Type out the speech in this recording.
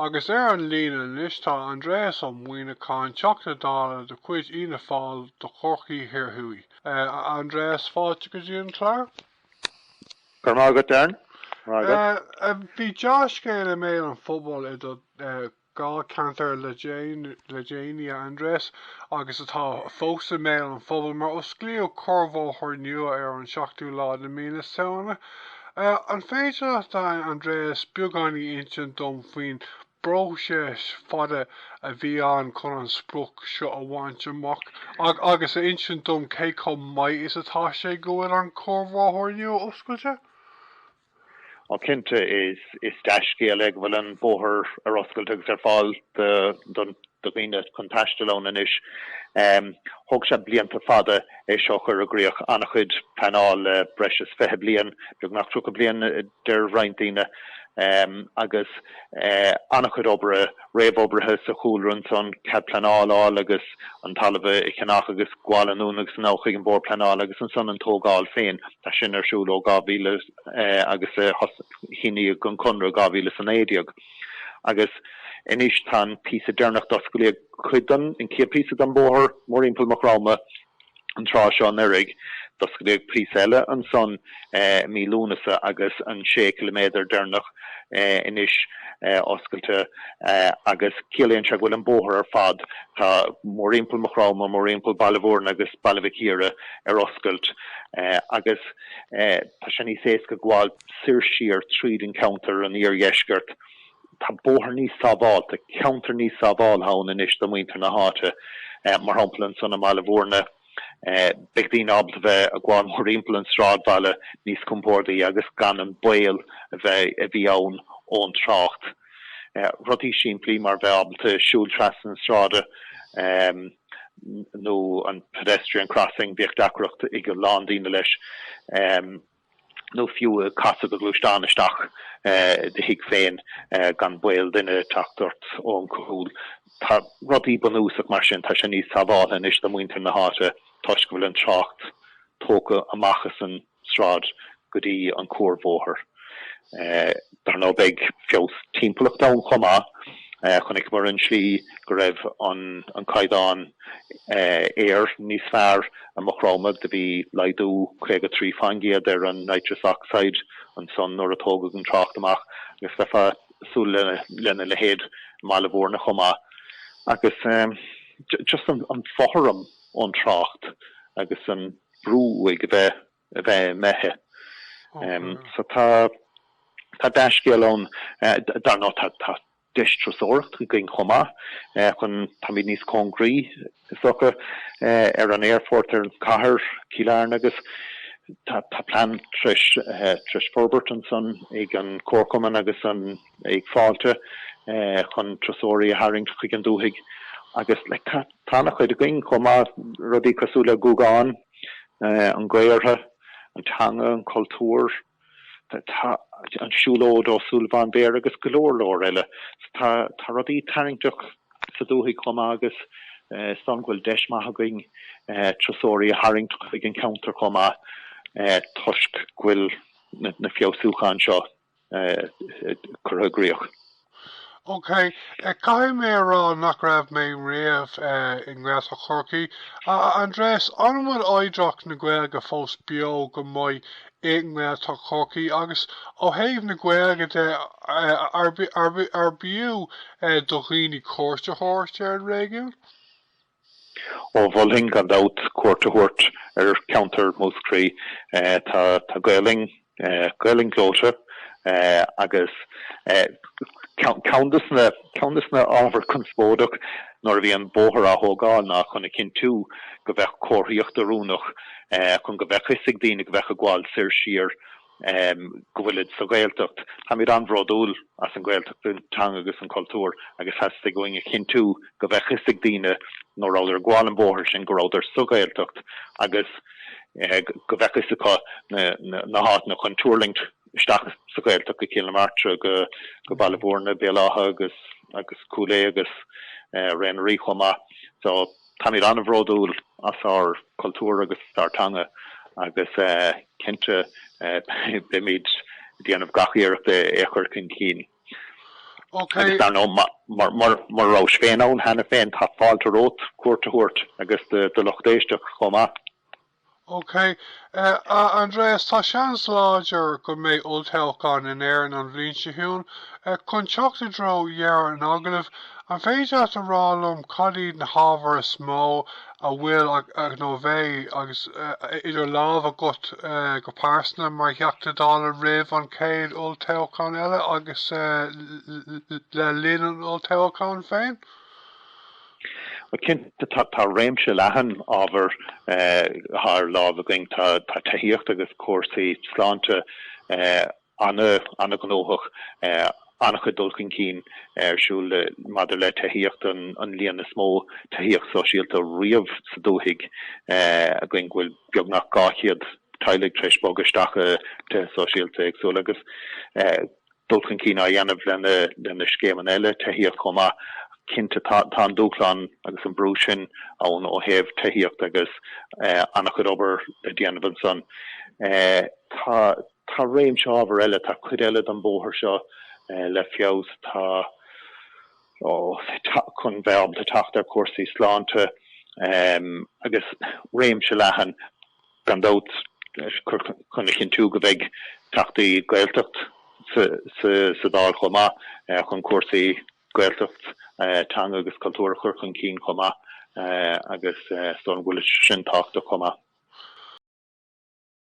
Agus ar an líne anois tá Aindreas Ó Muíneacháin, Teachta Dála de chuid Fhianna Fáil de Chorcaigh Thiar Thuaidh. A Aindreas, fáilte go dtí an clár. Go raibh maith agat, Darren. Bhí dea-scéal i mbéal an phobail i do dháilcheantar le déanaí, a Aindreas, agus atá fós i mbéal an phobail, mar osclaíodh cuarbhóthar nua ar an seachtú lá de mhí na Samhna. An féidir leat, a Aindreas, beagán a insint dom faoin bpróiseas fada a bhí ann chun an sprioc seo a bhaint amach agus a insint dom cé chomh maith is atá sé go bhfuil an cuarbhóthar inniu oscailte? Á cinnte, is dea-scéal é go bhfuil an bóthar ar oscailt agus ar fáil don do dhaoine chun taisteal ann anois. Thóg sé blianta fada é seo a chur i gcríoch, an-chuid pleanáil le breis is fiche bliain, beagnach tríocha bliain deir roinnt daoine, agus an-chuid oibre réamhoibrithe sa chúlra ansan, cead pleanála a fháil agus an talamh a cheannach agus gabháil anonn agus anall chuig an Bord Pleanála agus ansan an tógáil féin. Tá sin ar siúl ó 2000 agus síníodh an conradh 2019. Agus anois tá an píosa deireanach d'osclaíodh cuid den, an chéad píosa den bóthar, mórthimpeall Maigh Chromtha an tráth seo anuraidh. D'osclaíodh píosa eile ansan mí Lúnasa agus an sé ciliméadar deireanach anois oscailte agus ciallaíonn sé go bhfuil an bóthar ar fad, tá mórthimpeall Maigh Chromtha, mórthimpeall Baile Mhúirne agus Baile Mhic Íre ar oscailt agus tá san níos éasca gabháil. soir siar tríd an contae an iardheisceart. Tá bóthar níos sábháilte, ceantar níos sábháilte ann anois do mhuintir na háite. Mar shampla ansan i mBaile Mhúirne beidh daoine ábalta bheith a' gabháil mórthimpeall an sráidbhaile níos compórdaí agus gan an baol a bheith, a bhí ann ón trácht. Rudaí simplí mar bheith ábalta siúl trasna na sráide nó an pedestrian crossing, bhíodh deacracht ag a lán daoine leis. nó fiú ag casadh do ghluaisteán isteach i do thigh féin gan baol duine ag teacht ort ón gcúl. Tá rudaí bunúsach mar sin, tá sé níos sábháilte anois do mhuintir na háite toisc go bhfuil an trácht tógtha amach as an sráid go dtí an cuarbhóthar. Dar ndóigh, beidh feabhas timpeallachta ann chomh maith. Chonaiceamar an tslí go raibh an caighdeán aeir níos fearr i Maigh Chromtha, do bhí laghdú 53 fán gcéad ar an nitrous oxide ansan nuair a tógadh an trácht amach, agus bheifeá ag súil lena leithéid i mBaile Mhúirne chomh maith. Agus just an fothram ón trácht agus an brú uaidh a bheith. a bheith i mbéithe. So tá tá dea-scéal ann. Dar ndóigh tá tá deis turasóireacht againn chomh maith chun táimid níos cóngaraí is dócha ar an aerfort ar an cathair Cill Airne agus tá tá plean treis treis forbairt ansan ag an Comharchumann agus an ag Fáilte chun turasóirí a tharraingt chuig an dúthaigh agus like tá tá ana chuid againn chomh maith rudaí cosúil le Guagán. an Gaortha, an teanga, an cultúr, an siúlóid Ó Súilleabháin Béarra agus go leor leor eile. Tá rudaí tarraingteach sa dúthaigh chomh maith agus is dóigh liom go bhfuil deis maith againn turasóirí a tharraingt chuig an cheantar chomh maith toisc go bhfuil na feabhsúcháin seo curtha i gcríoch. OK, caithfidh mé a rá nach raibh mé riamh i nGaeltacht Chorcaí. A Aindreas, an bhfuil oidhreacht na Gaeilge fós beo go maith i nGaeltacht Chorcaí agus, ó thaobh na Gaeilge de, arbh fhiú do dhaoine cuairt a thabhairt ar an réigiún? Ó, mholfainn gan dabht cuairt a thabhairt ar cheantar Mhúscraí. Tá Gaolainn, Gaolainn ghleoite agus ceann dos na, ceann dos na ábhair conspóideach nuair a bhí an bóthar á thógáil ná chun a chinntiú go bheadh comharthaíocht oiriúnach chun go mbeadh 'fhios ag daoine go bheadh ag gabháil soir siar go bhfuilid sa Ghaeltacht. Táimid an-bhródúil as an Ghaeltacht, an teanga agus an cultúr agus theastaigh uainn a chinntiú go bheadh 'fhios ag daoine nuair a rabhadar ag gabháil an bhóthair sin go rabhadar sa Ghaeltacht agus go bheadh 'fhios acu na háiteanna chun tuirlingt isteach sa Ghaeltacht, go Cill na Martra, go Baile Bhúirne, Béal Átha, Guagán, Cúil Aodha agus Ré na nDoirí chomh maith. Táimid an-bhródúil as ár gcultúr agus ár dteanga agus cinnte beimid ag déanamh gach iarracht é a chur chun cinn. Agus dar ndóigh, mura rabhais féin ann cheana féin, tá fáilte romhat cuairt a thabhairt, agus do do lucht éisteachta chomh maith. OK. A Aindreas, tá seans láidir go mbeidh olltoghchán in Éirinn an bhliain seo chugainn. Chun teacht i dtreo dheireadh an agallaimh, an féidir leat a rá liom cad iad na hábhair is mó a bhfuil, nó a bheidh, idir lámh agat go pearsana mar Theachta Dála roimh an chéad olltoghchán eile agus le linn an olltoghcháin féin? Cinnte, tá réimse leathan ábhar thar lámh againn. Tá tithíocht agus cúrsaí sláinte an-ghnóthach, an-chuid dul chun cinn ar siúl maidir le tithíocht, an líon is mó tithíocht sóisialta riamh sa dúthaigh againn, go bhfuil beagnach 200 teaghlach tar éis bogadh isteach i dtithe sóisialta éagsúla, agus dul chun cinn á dhéanamh le scéimeanna eile tithíochta chomh maith. Cinnte tá an dúshlán agus an brú sin ann ó thaobh tithíochta agus an-chuid obair á déanamh ansan. Tá réimse ábhar eile, tá cuid eile den bhóthar seo le feabhsú, chun a bheith ábalta teacht ar chúrsaí sláinte agus réimse leathan. gan dabht, chun a chinntiú go mbeidh Teachtaí Gaeltacht sa Dáil chomh maith chun cúrsaí Gaeltacht, teanga agus cultúir a chur chun cinn chomh maith agus is dócha go bhfuil sin tábhachtach chomh maith?